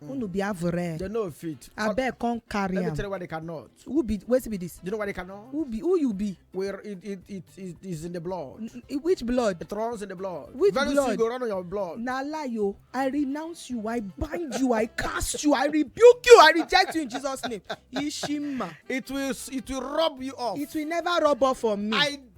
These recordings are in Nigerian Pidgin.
Hmm. unu be avure they no fit abeg come carry am let me tell you why they cannot who be wetin be this you know why they cannot who be who you be where it it it, it is in the blood which blood it runs in the blood which very blood? soon go run on your blood na lie o oh. i renounce you i bind you i cast you i rebuke you i reject you in jesus name ishima it will it will rub you off it will never rub off on me i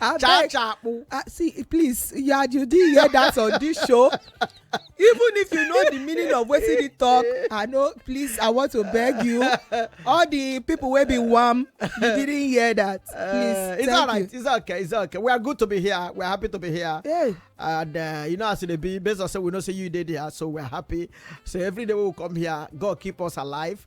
abeg chachapu ah see please you are you did hear that on this show even if you know the meaning of wetin he talk i know please i want to beg you all the people wey be warm you didn't hear that please uh, it's all right you. it's okay it's okay we are good to be here we are happy to be here hey. and uh, you know as e dey be based on say we know say you dey there so we are happy so every day we will come here god keep us alive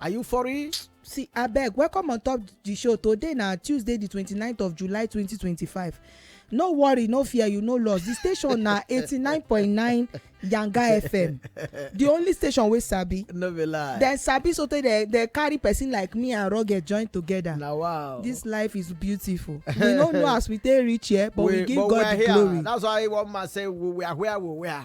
are you for it? see abeg welcome on top the show today na tuesday the twenty 29th of july twenty twenty five. no worry no fear you no loss the station na eighty nine point nine yanga fm the only station wey sabi no be lie dem sabi sotey dem dem carry person like me and rugged join together na wow this life is beautiful we no know as we take reach here but we, we give but god the glory that's why one man say we are where we were.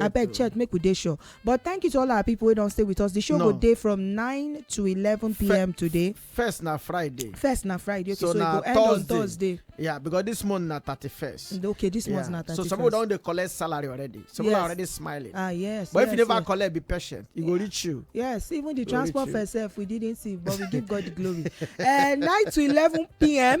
abeg check make we dey sure but thank you to all our people wey don stay with us the show go dey from 9 to 11pm today first na friday first na friday okay so e go end on thursday yeah because this month na 31st okay this month na 31st so some people don dey collect salary already some people are already smiling ah yes but if you never collect be patient e go reach you yes even the transport fare sef we didn't see but we give god the glory eh, 9 to 11pm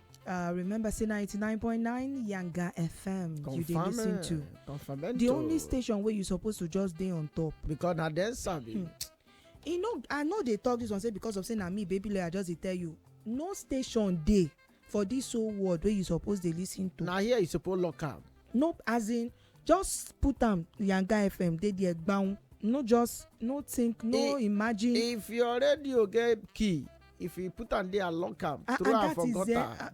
Uh, remember, say 99.9 Yanga FM. You dey Confirm listen it. to. Confirmento. The only station where you supposed to just dey on top. because na dem sabi. Hmm. You know, I know they talk this one say because of say na me, baby lawyer, just dey tell you. No station dey for this whole world where you supposed dey listen to. na here you suppose lock am. Nope, as in just put am yanga fm dey there gbaun no just no think no imagine. if your radio get key if you put am there lock am ah, throw am for gutter. Ah,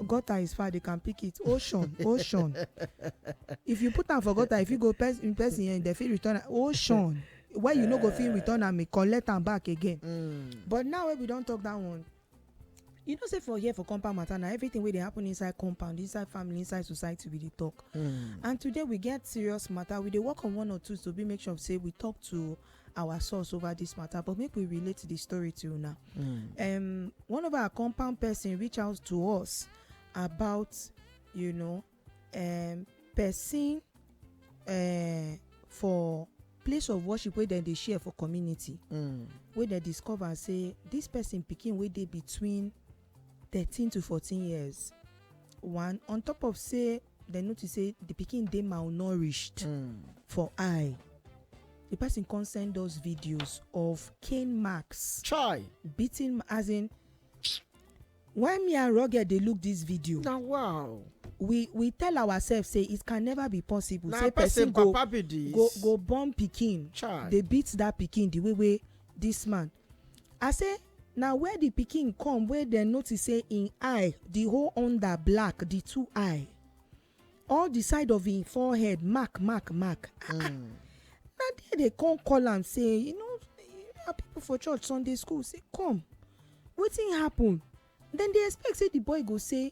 gutter is far they can pick it ocean ocean if you put am for gutter if you go in person here dem fit return am ocean why you no go fit return am collect am back again. Mm. but now wey we don talk that one you know say for here for compound matter na everything wey dey happen inside compound inside family inside society we dey talk hmm. and today we get serious matter we dey work on one or two to be make sure say we talk to our source over this matter but make we relate the story to una hmm. um, one of our compound person reach out to us about you know um person um for place of worship wey dem dey share for community mm. wey dem discover say this person pikin wey dey between thirteen to fourteen years one on top of say dem notice say the pikin dey malnourished Mm. for eye the person come send us videos of cane marks chai beating as in Why me and Rugged dey look this video? Na wow. We we tell ourselves say it can never be possible Na say person person go papa be this. go go born pikin Chai. dey beat that pikin the way wey this man. I say na where the pikin come wey dem notice say im eye the whole under black the two eye all the side of him forehead mark mark mark ah, ah. Hmm. na there they come call am say you know our people for church sunday school say come wetin happen dem dey expect say the boy go say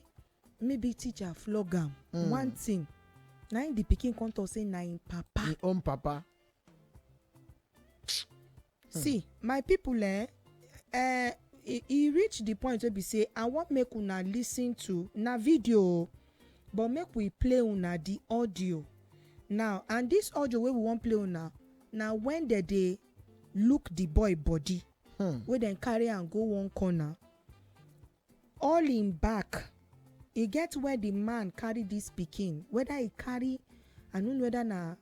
maybe teacher flog am mm. one thing na him the pikin come talk say na him papa. him own papa. see my people eh eh e e reach the point wey be say i wan make una listen to na video o but make we play una the audio now and this audio wey we wan play una na when dem dey look the boy body Hmm. wey dem carry am go one corner all im back e get where the man carry this pikin whether e carry i no know whether na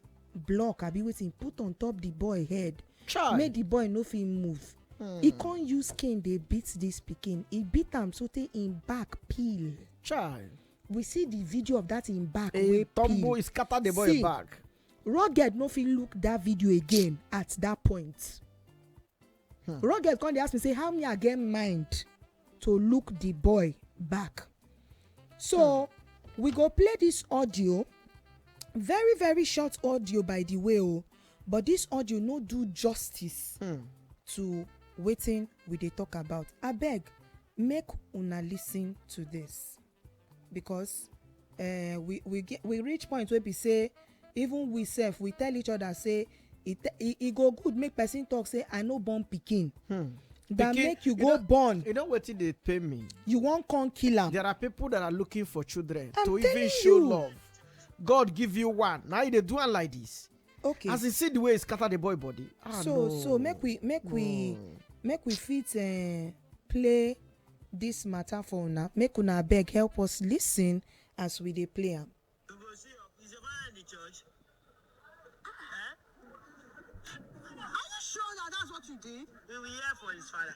block abi wetin e put on top the boy head Chai. make the boy no fit move Hmm. e con use cane dey beat this pikin e beat am sotey im back peel Chai. we see the video of that im back A wey tumble peel is scatter the boy See. back. rugged no fit look that video again at that point Hmm. Rugged come dey ask me say how me I get mind to look the boy back. So hmm. we go play this audio, very very short audio by the way o, oh, but this audio no do justice hmm. to wetin we dey talk about. Abeg make una listen to this. because uh, we we get we reach point wey be say even we sef we tell each other say e e, e go good make person talk say i no born pikin. Hmm that make you go born you know wetin dey pain me you wan come kill am there are people that are looking for children to even show love god give you one now you dey do am like this okay as in see the way e scatter the boy body ah so no. so make we make no. we make we fit uh, play this matter for una make una abeg help us lis ten as we dey play am. you go see is your father in the church. Eh? are you sure that that's what you did. we will hear for his father.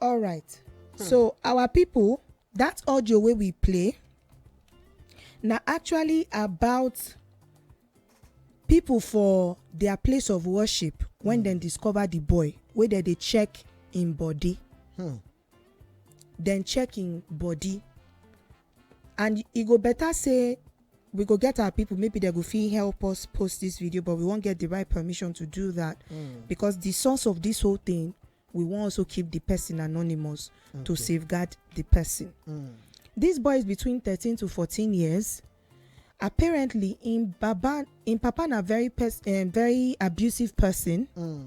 all right hmm. so our people that audio wey we play na actually about people for their place of worship when hmm. dem discover the boy wey dem dey check im body hmm. then check him body and e go better say we go get our people maybe they go fit help us post this video but we won't get the right permission to do that mm. because the source of this whole thing we won't also keep the person anonymous okay. to safeguard the person mm. this boy is between 13 to 14 years apparently im baba im papa na very pers um, very abusive person mm.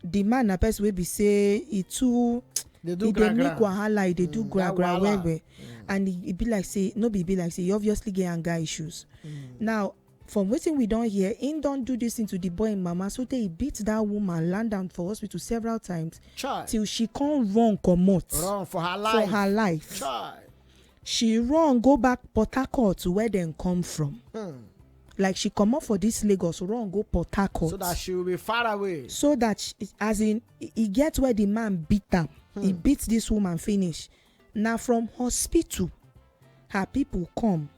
the man na person wey be say e too e dey make wahala e dey do mm, gra gra well well mm. and e be like say no be be like say e obviously get anger issues mm. now from wetin we don hear im don do dis thing to di boy im mama so tey e beat dat woman land am for hospital several times till she come run comot for her life she run go back port harcourt where dem come from like she comot for dis lagos run go port harcourt so that she will be far away so that she- as in e- e get where the man beat am he beat this woman finish na from hospital her people come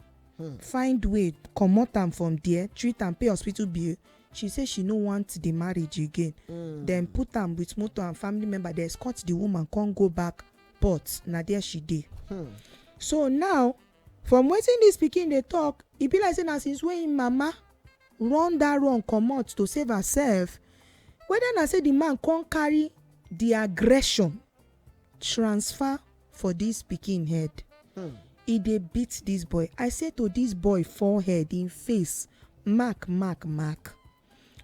find way comot am from there treat am pay hospital bill she say she no want the marriage again dem put am with motor and family member dey escort the woman come go back but na there she dey hmm. so now from wetin dis pikin dey talk e be like say na since wey im mama run dat run comot to save herself whether na say di man come carry di aggression transfer for dis pikin head hmm. e dey beat dis boy i say to dis boy forehead im face mark mark mark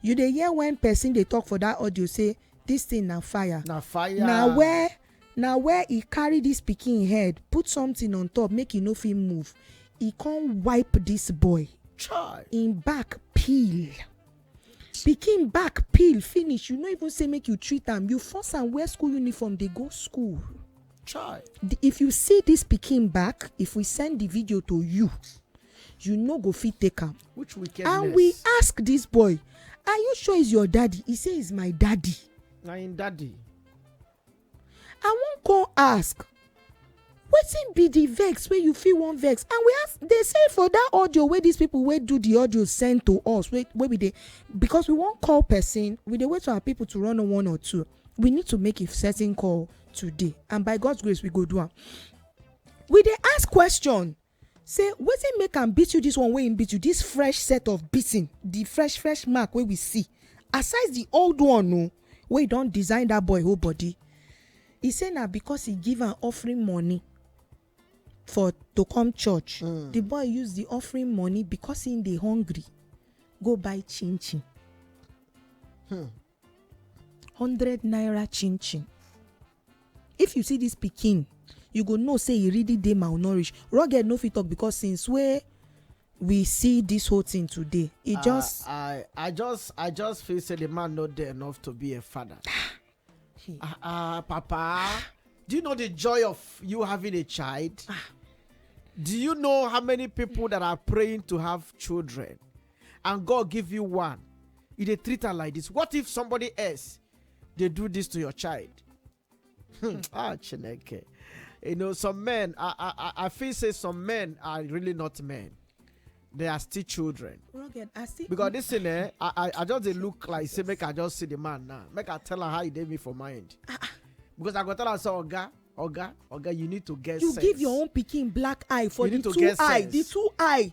You dey hear when person dey talk for that audio say this thing na fire. Na fire. Na where na where he carry this pikin head put something on top make he no fit move. He come wipe this boy. Chai. Him back peel. Pikin back peel finish. You no even say make you treat am. You force am wear school uniform dey go school. Try. if you see this pikin back if we send the video to you you no go fit take am which wickedness and we ask this boy are you sure he's your daddy he say he's my daddy na him daddy i wan come ask wetin be the vex wey you fit wan vex and we ask dey say for that audio wey these people wey do the audio send to us wey wey we dey because we wan call person we dey wait for our people to run one or two we need to make a certain call today and by god's grace we go do am we dey ask question say wetin make am beat you this one wey im beat you this fresh set of beating the fresh fresh mark wey we see aside the old one o wey don design that boy whole body e say na because e give am offering money for to come church mm. the boy use the offering money because he dey hungry go buy chin chin hmm. hundred naira chin chin if you see this pikin you go know say e really dey malnourished rugged no fit talk because since wey we see this whole thing today e just. i i just i just feel say the man no dey enough to be a father. ah ah papa do you know the joy of you having a child. Ah. do you know how many people that are praying to have children. and god give you one you dey treat am like this what if somebody else dey do this to your child Hmm, ah chineke you know some men i i i- i feel say some men are really not men they are still children Rugged, I see. because this thing eh i i, I just dey look like say make i just see the man now make i tell am how e dey me for mind because i go tell am say oga oga oga you need to get you sense. give your own pikin black eye for You the need to two get eye the sense. two eye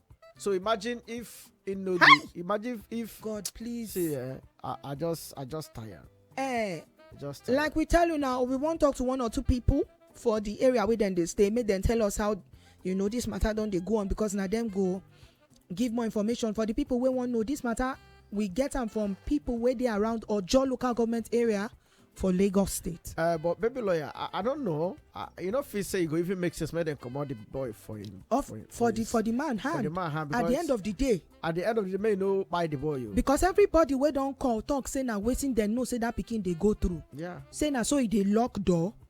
So imagine if you know the, imagine if God please. See, uh, I, I just I just tired. Eh. Just tired. like we tell you now, we won't talk to one or two people for the area where then they stay. Make them tell us how you know this matter don't they go on because now them go give more information for the people we want know this matter we get them from people where they around or your local government area for lagos state Uh, but baby lawyer, I, I don't know. I, you know, if you say you go even make sense, make them come out the boy for him. of for, him- for the his- for the man for hand the man hand at the because end of the day at the end of the day, may you know buy the boy. You. because everybody wey don call talk say na wetin dem know say that pikin dey go through yeah. say na so e dey lock door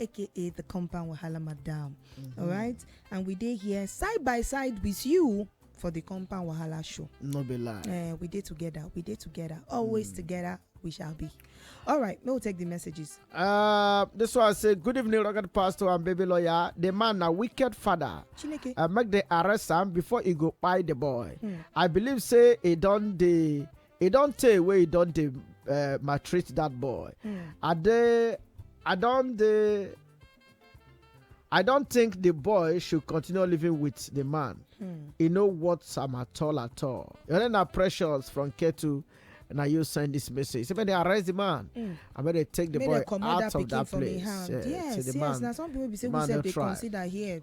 aka the compound wahala madam mm-hmm. all right and we dey here side by side with you for the compound wahala show no be lie eh, we dey together we dey together always mm. together we shall be. All right, we'll take the messages. Uh, this one say, Good evening, Rocket Pastor and Baby Lawyer. The man, a wicked father, Chineke. Uh, make the arrest him before he go buy the boy. Hmm. I believe, say, he done the e don tey wey e don dey uh, maltreat that boy Mm. i dey i don dey i don think the boy should continue living with the man Mm. e no worth am at all at all your name na precious from ketu na you send this message say make they arrest the man Mm. and make they take the Make boy dem comot out that of pikin that from im place hand. Eh, Yes, say the yes. man Na some people be say the we man sef no dey try. consider here.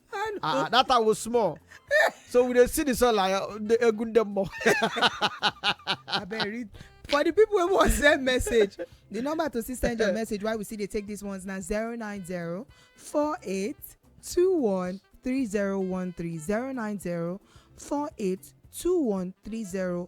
I know. Ah, ah, that time was small. so we dey see the sun like uh, the egun dem more. abeg read for the people wey wan send message the number to still send your message why we still dey take these ones na zero nine zero four eight two one three zero one three zero nine zero four eight two one three zero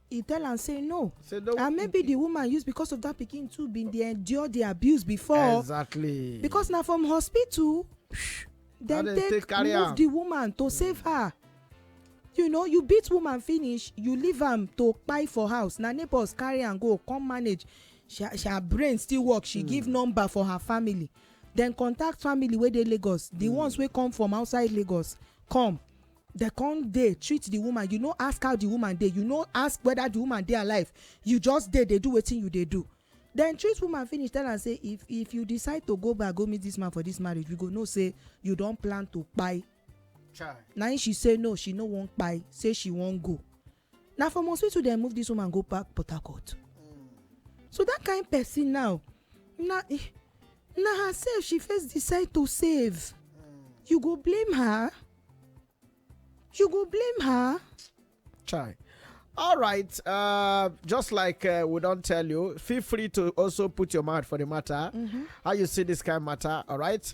He tell am say no. Say no. And maybe the woman use because of that pikin too been dey endure the abuse before. Exactly. Because na from hospital dem take, take carry move am. the woman to mm. save her. You know, you beat woman finish, you leave am to kpai for house. Na neighbors carry am go come manage. She, she, her brain still work. She mm. give number for her family. Then contact family wey dey Lagos. The mm. ones wey come from outside Lagos come dem come dey treat the woman you no ask how the woman dey you no ask whether the woman dey alive you just dey dey do wetin you dey do dem treat woman finish tell am say if if you decide to go back go meet this man for this marriage we go know say you don plan to kpai Chai. na im she say no she no wan kpai say she wan go na from hospital dem move this woman go back port harcourt so that kind person now na na herself she first decide to save you go blame her you go blame her chai all right uh, just like uh, we don't tell you feel free to also put your mouth for the matter mm-hmm. how you see this kind of matter all right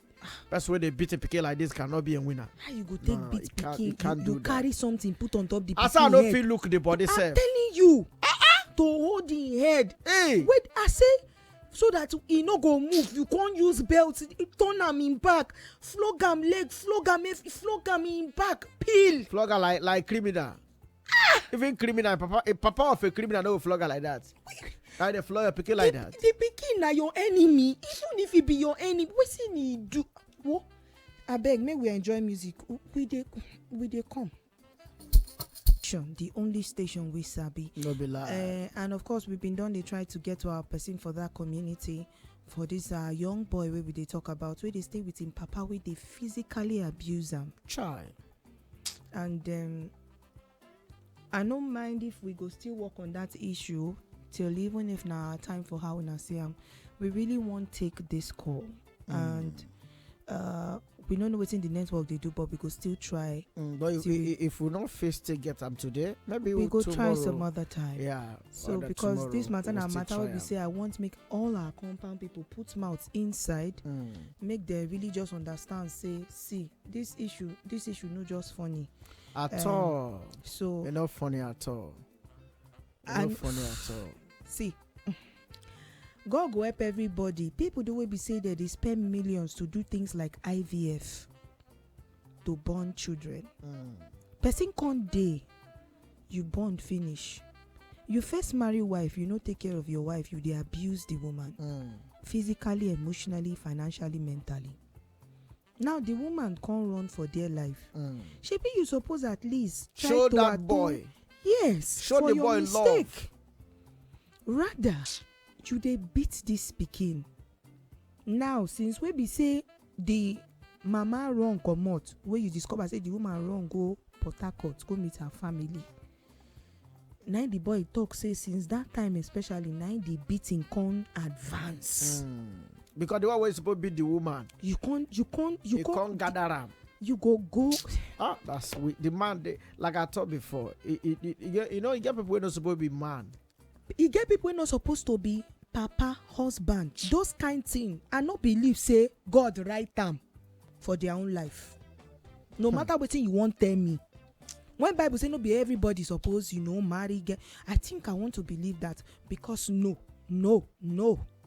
person wey dey beat him pikin like this cannot be a winner. how you go take no, beat pikin you, you, you carry something put on top the pikin head. as i no fit look the body sef. i'm telling you. Uh -uh. to hold the head. Hey. wait i say so that e no go move you con use belt turn am im back flog am leg flog am flog am im back peel. flog am like like criminal. Ah! Even criminal, papa, a papa of a criminal no flog her like that. Now they flog your pikin like that. The pikin na your enemy. Even if he be your enemy, wetin he do? Wo, abeg make we enjoy music. We dey we dey come. station the only station we sabi no be lie eh, and of course we been done. They try to get to our person for that community for this uh, young boy wey we they talk about where they stay with him papa where they physically abuse him. child and um, i no mind if we go still work on that issue till even if na our time for how una see am we really wan take this call and uh, we no know wetin the network dey do but we go still try Mm, but if, Till- i- if we no fit still get am today maybe we go tomorrow, try some other time yeah so other because tomorrow, this matter we na still matter wey try be am. say i want make all our compound people put mouth inside mm. make dem really just understand say see this issue this issue no just funny at um, all so e no funny at all e no funny at all see god go help everybody people the way we say that they spend millions to do things like ivf to born children mm. person come dey you born finish you first marry wife you no take care of your wife you dey abuse the woman mm. physically emotionally financially mentally now the woman come run for dear life mm. shebi you suppose at least try show to that atone boy yes show for the your boy mistake love. rather you dey beat this pikin now since wey be say the mama run comot wey you discover say the woman run go port harcourt go meet her family na im the boy talk say since that time especially na im the beating come advance. Mm. because the one wey suppose beat the woman. you con you con you con, con gather am. you go go. ah that's sweet the man dey like i talk before e e e you know e get people wey no suppose be man. E get people wey no suppose to be papa, husband, those kind thing I no believe say God write am for their own life no hmm. matter wetin you wan tell me when bible say no be everybody suppose you know marry girl i think i want to believe that because no no no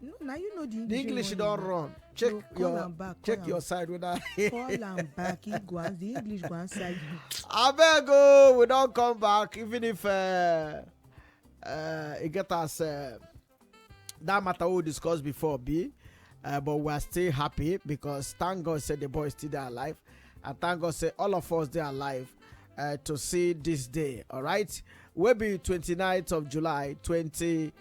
no na you know the english the english don run check no, your back, check your side whether. call am back he go and the english go answer you. abeg o oh, we don come back even if uh, uh, e get as uh, that matter we discuss before be uh, but we are still happy because thank god say the boy still dey alive and thank god say all of us dey alive uh, to see this day alright wey be 29th of july 20. 20-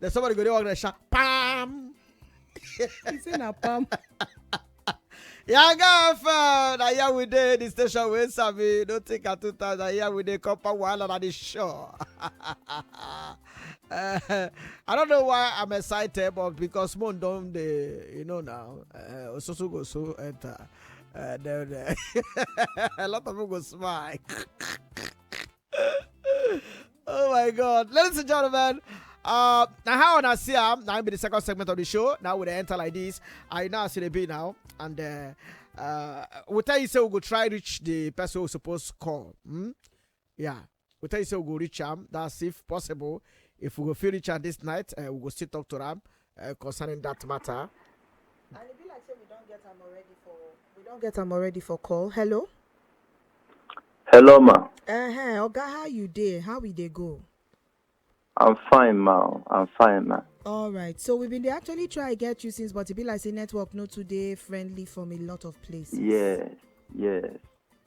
Then somebody go there walk there shout pam. It's in a pam. Yeah, girlfriend, I hear we dey the station wey sabi no take her two times. I hear we dey come for wahala na the show. Eh, I don't know why I'm excited, but because Moon don dey, you know now, uh, Osusu go so enter. Uh, then, uh, a lot of people go smile. oh my god ladies and gentlemen uh now how on see am now be the second segment of the show now we dey enter like this i know as e dey be now and uh, uh, we tell you say we go try reach the person we suppose call hmm? yeah we tell you say we go reach am that's if possible if we go fit reach am this night uh, we go still talk to am uh, concerning that matter. And it be like say we don't get them already for we don't get them already for call. Hello. Hello, ma. Uh huh. Oga, how you dey? How we dey go? I'm fine, ma. I'm fine, ma. All right. So we've been dey actually try get you since, but it be like say network no today friendly from a lot of places. Yes, yes.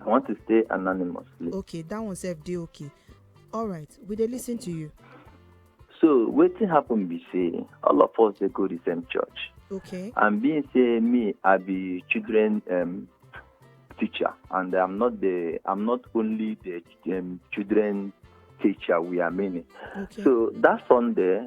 I want to stay anonymously. Okay, that one self dey okay. All right, we dey listen to you. So wetin happen be say all of us dey go the same church. Okay. And being say me, I be children um, teacher, and I'm not the I'm not only the um, children teacher. We are many. Okay. So that Sunday,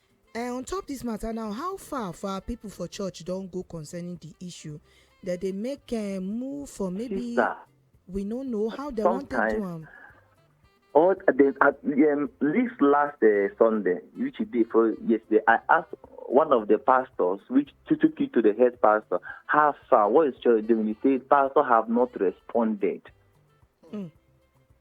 Eh, on top dis mata now, how far for our pipo for church don go concerning di issue? Dem dey make eh, move for maybe Sister, we no know how dem wan take do sometimes- am. All the, at, um, this last uh, Sunday, which he did for yesterday, I asked one of the pastors, which to- took it to the head pastor, how far, what is church doing? He said, Pastor have not responded.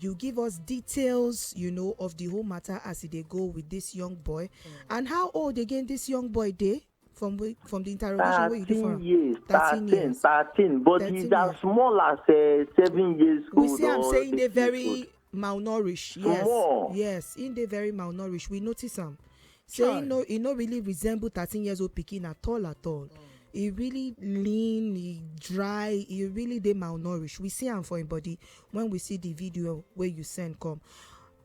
You give us details you know of the whole matter as e dey go with this young boy and how old again this young boy dey from wey from the interrogation wey you do for thirteen am? years Thirteen thirteen years. thirteen but Thirteen he's as years. small as eh, seven years We old see am or say he dey eight years old. very malnourished. Yes, Small. yes, he dey very malnourished. We notice am. say Chai. he no he no really resemble thirteen years old pikin at all at all mm. he really lean he dry he really dey malnourished we see am for him body when we see the video wey you send come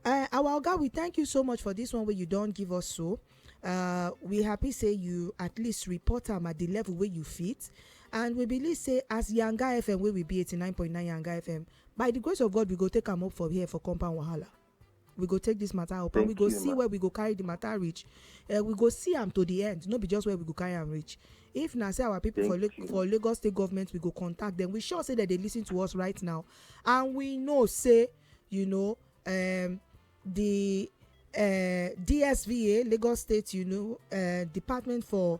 uh, our oga we thank you so much for this one wey you don give us so uh, we happy say you at least report am at the level wey you fit and we believe say as yanga fm wey we be eighty nine point nine yanga fm by the grace of god we go take am up for here for compound wahala. we go take this matter up and we go see where we go carry the matter reach eh, we go see am to the end no be just where we go carry am reach if na say our people for for lagos state government we go contact them. we sure say that they listen to us right now and we know say you know um, the uh, dsva lagos state you know uh, department for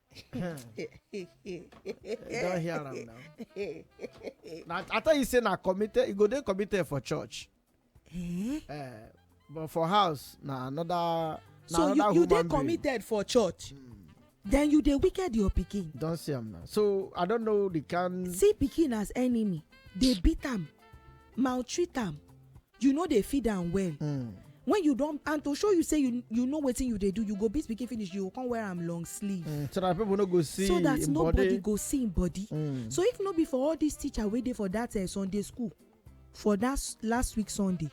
you don hear am now na i tell you say na committed you go dey committed for church eh? Uh, but for house na another na so another you, you dey committed for church mm. then you dey wicked your pikin don see am now so i don know the kind see pikin as enemy dey beat am maltreat am you no dey feed am well Hmm. when you don and to show you say you you know wetin you dey do you go beat pikin finish you go come wear am long sleeve Hmm. So that people no go see. so that him nobody body. go see im body Hmm. so if no be for all dis teacher wey dey for dat eh, sunday school for dat s- last week sunday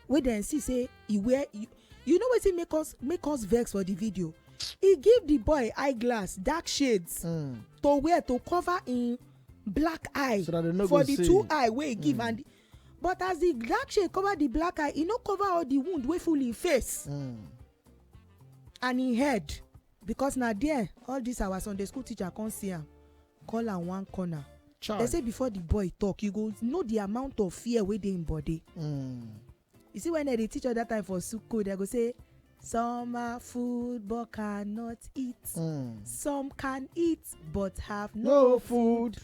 wey dem see say e wear you- you know wetin make us make us vex for di video e give di boy eye glass dark shades Hmm. to wear to cover im black eye So that they no for go di see. two eye wey e give and but as the dark shade cover the black eye e no cover all the wound wey full him face mm. and him head because na there all this our sunday school teacher come see am call am one corner Child. they say before the boy talk you go know the amount of fear wey dey him body mm. you see when dem dey teach us that time for school dem go say some are food but cannot eat mm. some can eat but have no, no food. food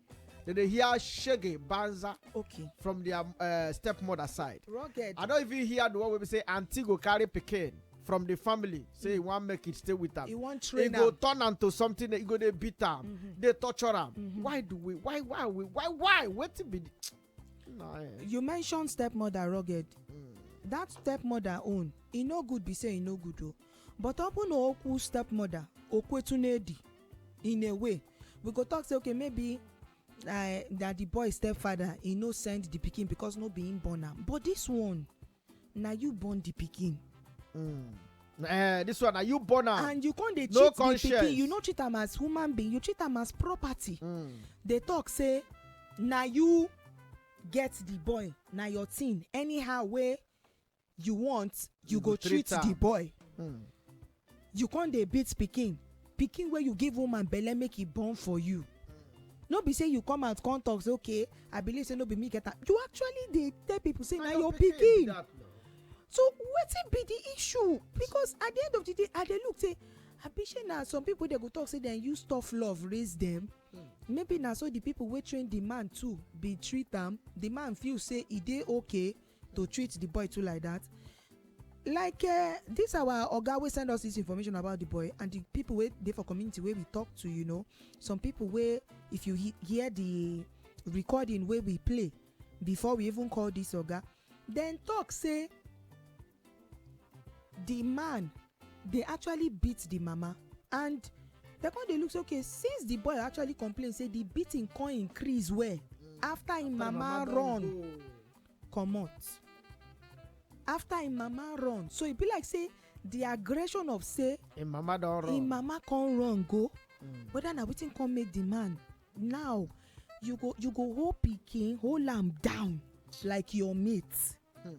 Then they hear shege banza okay from their uh, stepmother side rugged i don't even hear the one where we say auntie go carry pikin from the family say he mm. wan make it stay with am he wan train am he go turn am to something that he go dey beat am mm-hmm. dey torture am mm-hmm. why do we why why we why why wetin be the you mention stepmother rugged hmm. that stepmother own e no good be say e no good o but ọ bụ na okwu stepmother okwetu n'edi in a way we go talk say okay maybe uh, that the boy stepfather he no send the pikin because no be him born am but this one na you born the pikin mm. Uh, this one na you born am and you con dey treat no the pikin you no treat am as human being you treat am as property mm. dey talk say na you get the boy na your thing anyhow wey you want you, you go treat, treat the boy mm. you con dey beat pikin pikin wey you give woman belle make e born for you no be say you come out come talk say okay i believe say no be me get am you actually dey tell people say na your pikin so wetin be the issue because at the end of the day i dey look say abi shey na some people dey go talk say dem use tough love raise dem hmm. maybe na so the people wey train the man too be treat am the man feel say e dey okay to treat the boy too like that like uh, this our oga wey send us this information about the boy and the people wey dey for community wey we talk to you know some people wey if you he hear the recording wey we play before we even call this oga dem talk say the man dey actually beat the mama and dem come dey look say okay since the boy actually complain say the beating come increase well after im mama run comot after im mama run so e be like say the aggression of say im mama don run im mama come run go hmm. whether na wetin come make the man now you go you go hold pikin hold am down like your mate hmm.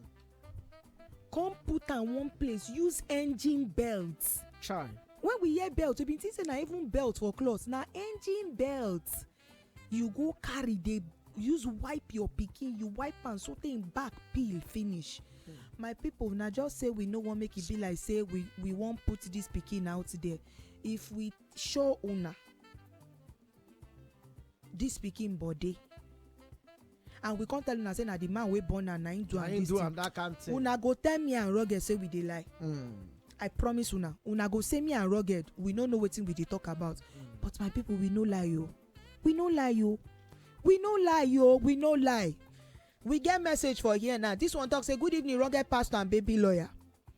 come put am one place use engine belt try when we hear belt we bin think say na even belt for cloth na engine belt you go carry dey use wipe your pikin you wipe am so tey im back peel finish hmm. my people na just say we no wan make e be like say we we wan put this pikin out there if we show una this pikin body and we come tell una say na the man wey born am na him do na am him this do thing am that kind thing. una go tell me and rugged say we dey lie Mm. i promise una una go say me and rugged we no know wetin we dey talk about but my people we no lie o we no lie o we no lie o we no lie we get message for here now this one talk say good evening rugged pastor and baby lawyer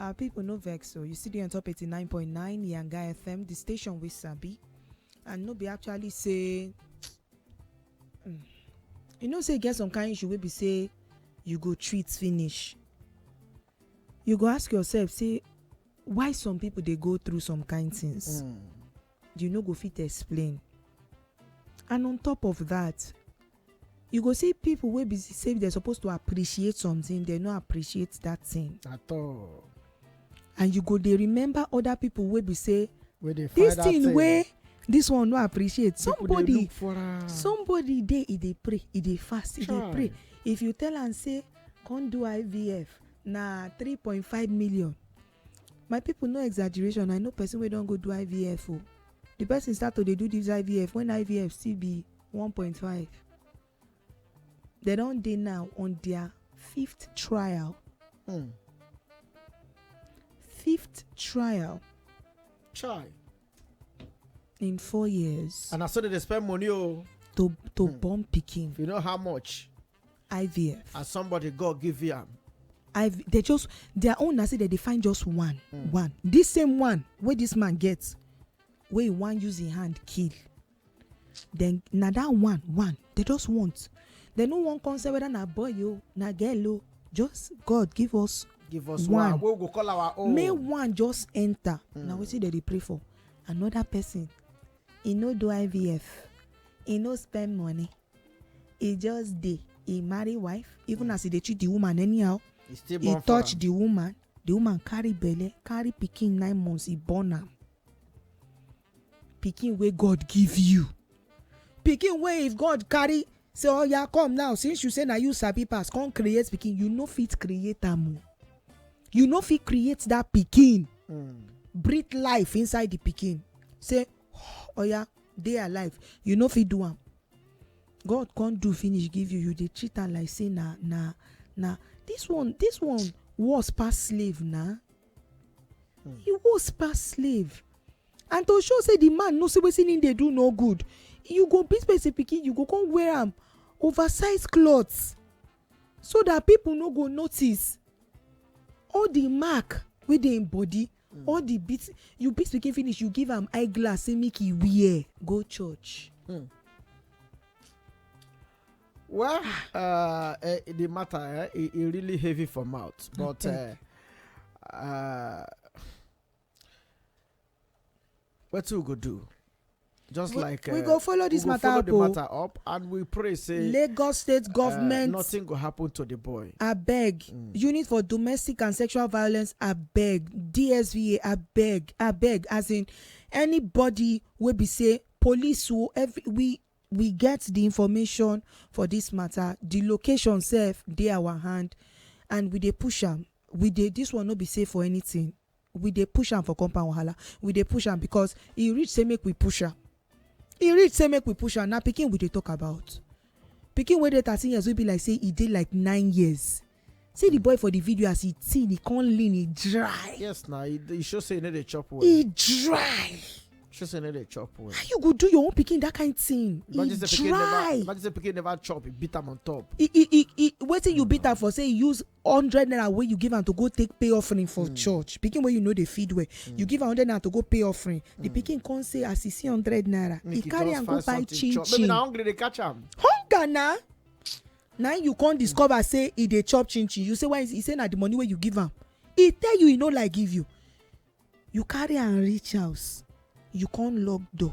Our people no vex so you still dey on top 89.9 Yanga FM, the station we sabi. And no be actually say Mm. you know say e get some kind issue wey be say you go treat finish. You go ask yourself say why some people dey go through some kind things. Mm. you no go fit explain and on top of that you go see people wey be say they're supposed to appreciate something they no appreciate that thing at all and you go dey remember other people wey be say this thing wey this one no appreciate somebody somebody dey e dey pray e dey fast e dey pray if you tell am say come do ivf na three point five million my people no exaggeration i know person wey don go do ivf o the person start to dey do this ivf when ivf still be 1.5 they don dey now on their fifth trial Hmm. fifth trial Chai. in four years And I saw that they spend money. Oh, to to born pikin if you know how much. ivf as somebody god give you am i they just their own na say they dey find just one mm. one this same one wey this man get wey he wan use him hand kill then na that one one they just want they no wan come say whether na boy o na girl o just god give us give us one, one. we go call our own make one just enter mm. na wetin they dey pray for another person e no do ivf e no spend money e just dey e marry wife even as e dey treat the woman anyhow e still e born for touch am the woman the woman carry belle carry pikin nine months e born am pikin wey god give you pikin wey if god carry say oya come now since you say na you sabi pass come create pikin you no fit create am o you no fit create that pikin Mm. breathe life inside the pikin say oya dey alive you no fit do am god come do finish give you you dey treat am like say na na na this one this one worse pass slave na e worse pass slave and to show say the man know say wetin him dey do no good you go beat person pikin you go come wear am oversized cloth so that people no go notice all the mark wey dey him body All the beat you beat pikin finish you give am eye glass say make e wear go church. Hmm. well ah. uh, eh, the matter eh, e, e really heavy for mouth but uh, uh, wetin we go do just we, like we uh, go follow this we matter follow up the oh. matter up and we pray say lagos state uh, government uh, nothing go happen to the boy abeg mm. unit for domestic and sexual violence abeg dsva abeg abeg as in anybody wey be say police o every we we get the information for this matter the location sef dey our hand and we dey push am we dey this one no be safe for anything we dey push am for compound wahala we dey push am because e reach say make we push am e reach say make we push am na pikin we dey talk about pikin wey dey thirteen years wey be like say e dey like nine years see the boy for the video as e thin e come lean e dry yes na e e show say e no dey chop well e dry show say e no dey chop well how you go do your own pikin that kind thing e imagine say pikin never dry imagine say pikin never chop e beat am on top e e e e wetin you beat am for say e use hundred naira wey you give am to go take pay offering for hmm. church pikin wey you no dey feed well you hmm. give am hundred naira to go pay offering the hmm. pikin come say as e see hundred naira e carry am go buy chin chin maybe na hungry dey catch am hunger na na you come discover say e dey chop chin chin you say why e say na the money wey you give am e tell you e no like give you you carry am reach house you come lock door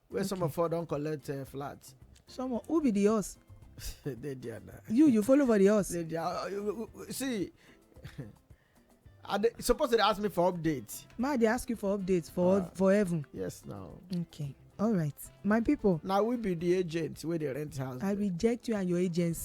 where some of us don collect uh, flat. some of who be the us. dey there na. you you follow for the us. dey there uh, see i dey suppose dey ask me for update. ma dey ask you for update for uh, for heaven. yes na. okay all right my people. na we be the agent wey dey rent house. i reject you and your agency.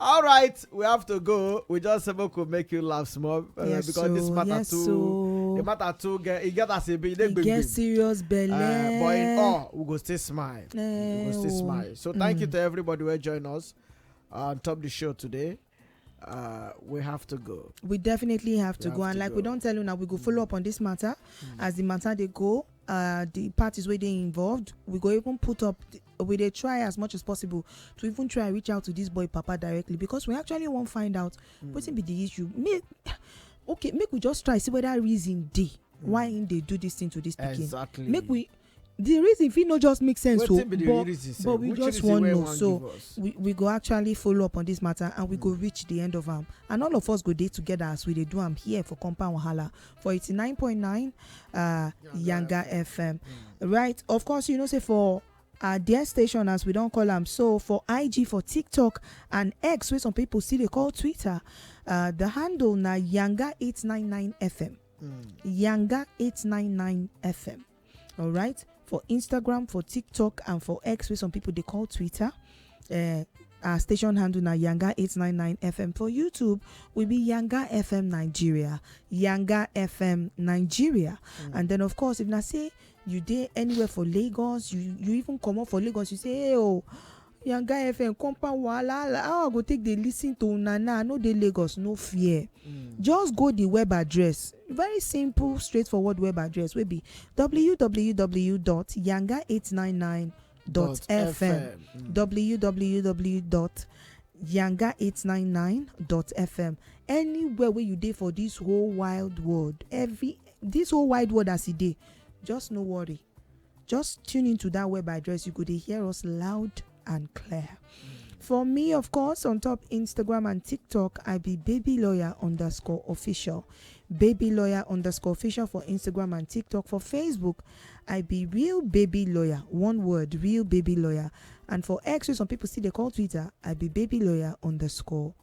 all right we have to go we just say make we make you laugh small uh, Yes, because this so, matter yes, too so. the matter too get e get as e be e dey e get gbegbe serious belle. uh, but in all we go still smile we Eh, go still oh. smile so thank you to everybody wey join us on top the show today uh, we have to go we definitely have to have go and to like we go. Mm. don tell una we go follow up on this matter as the matter dey go uh, the parties wey dey involved we go even put up the, we dey try as much as possible to even try reach out to this boy papa directly because we actually wan find out mm. wetin be the issue make okay make we just try see whether reason dey mm. why him dey do this thing to this pikin exactly. make we the reason fit no just make sense o but but we just wan know so we we go actually follow up on this matter and we go mm. reach the end of am and all of us go dey together as we dey do am here for compound wahala for 89.9 uh, Yanga FM. Right, of course, you know, say for uh, their station, as we don't call them, so for IG, for TikTok, and X, where some people see they call Twitter, uh, the handle na Yanga 899 FM. Yanga 899 FM. all right for instagram for tiktok and for x wey some people dey call twitter uh, our station handle na yanga 899 fm for youtube we be yanga fm nigeria yanga fm nigeria and then of course if na say you dey anywhere for lagos you you even comot for lagos you say hey o yanga fm compound wahala hala how i go take dey lis ten to una now i no dey lagos no fear just go the web address very simple straightforward web address wey be www.yanga899.fm www.yanga899.fm anywhere wey you dey for this whole wild world every this whole wide world as e dey just no worry just tune into that web address. You go to hear us loud and clear. For me, of course, on top Instagram and TikTok, I be baby lawyer underscore official. Baby lawyer underscore official for Instagram and TikTok. For Facebook, I be real baby lawyer. One word, real baby lawyer. And for X, wey some people see they call Twitter, I be baby lawyer underscore